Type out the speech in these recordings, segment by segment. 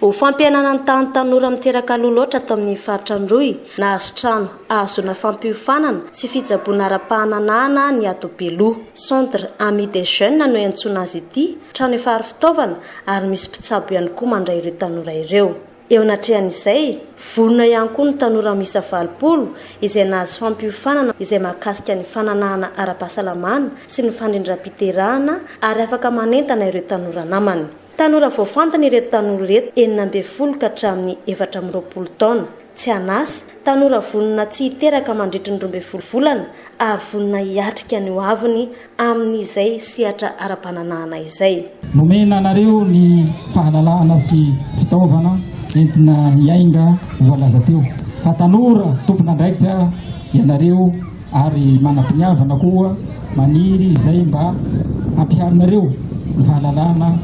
Ho fampihenana ny tahan'ny tanora miteraka aloha loatra ato amin'iny faritra Androy, nahazo trano ahazoana fampiofanana sy fitsaboana ara-pahananahana ny ato Beloha. Centre Amis des Jeunes no iantsoana azy ity, trano efa aro fitaovana ary misy mpitsabo ihany koa mandray ireo tanora ireo. Eo anatrehan'izay, vonona ihany koa ny tanora miisa valopolo izay nahazo fampiofanana izay mahakasika ny fananahana ara-pahasalamana sy ny fandrindram-piterahana ary afaka manentana ireo tanora namany. Tanora voafantina ireto tanora ireto, enina ambin'ny folo ka hatramin'ny efatra amby roapolo taona, tsy an'asa, tanora vonona tsy hiteraka mandritry ny roa ambin'ny folo volana ary vonona hiatrika ny hoaviny amin'izay sehatra ara-pananahana izay. Nomena anareo ny fahalalana sy fitaovana entina hiainga voalaza teo fa tanora tompon'andraikitra ianareo. ary manam-piniavana koa maniry izay mba hampiharinareo ny fahalalana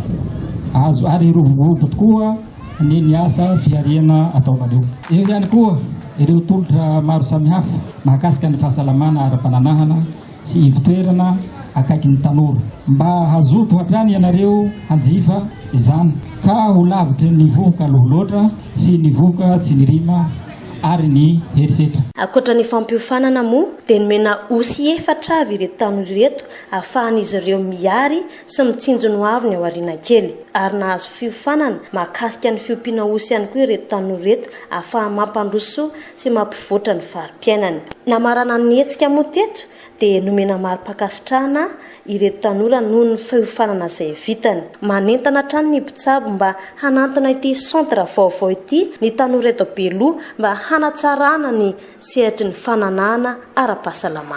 azo ary roboroboko tokoa ny ny asa fihariana ataonareo. Eo ihany koa ireo tolotra maro samihafa mahakasika ny fahasalamana ara-pananahana sy ivon-toerana akaiky ny tanora. Mba hazoto hatrany ianareo hanjifa izany ka ho lavitry ny vohoka aloha loatra sy ny vohoka tsiny rima. ary ny herisetra. Ankoatra ny fampiofanana moa dia nomena osy efatra avy ireto tanora ireto ahafahan'izy ireo miary sy mitsinjo ny hoavy ny aoriana kely. Ary nahazo fiofanana mahakasika ny fiompiana osy ihany koa ireto tanora ireto ahafaha-mampandroso sy mampivoatra ny fari-piainany. Namarana ny hetsika moa teto dia nomena mari-pankasitrahana ireto tanora noho ny fiofanana izay vitany. Manentana hatrany ny mpitsabo mba hanantona ity centre vaovao ity ny tanora eto Beloha mba hanatsarana ny sehatry ny fananahana ara-pahasalamana.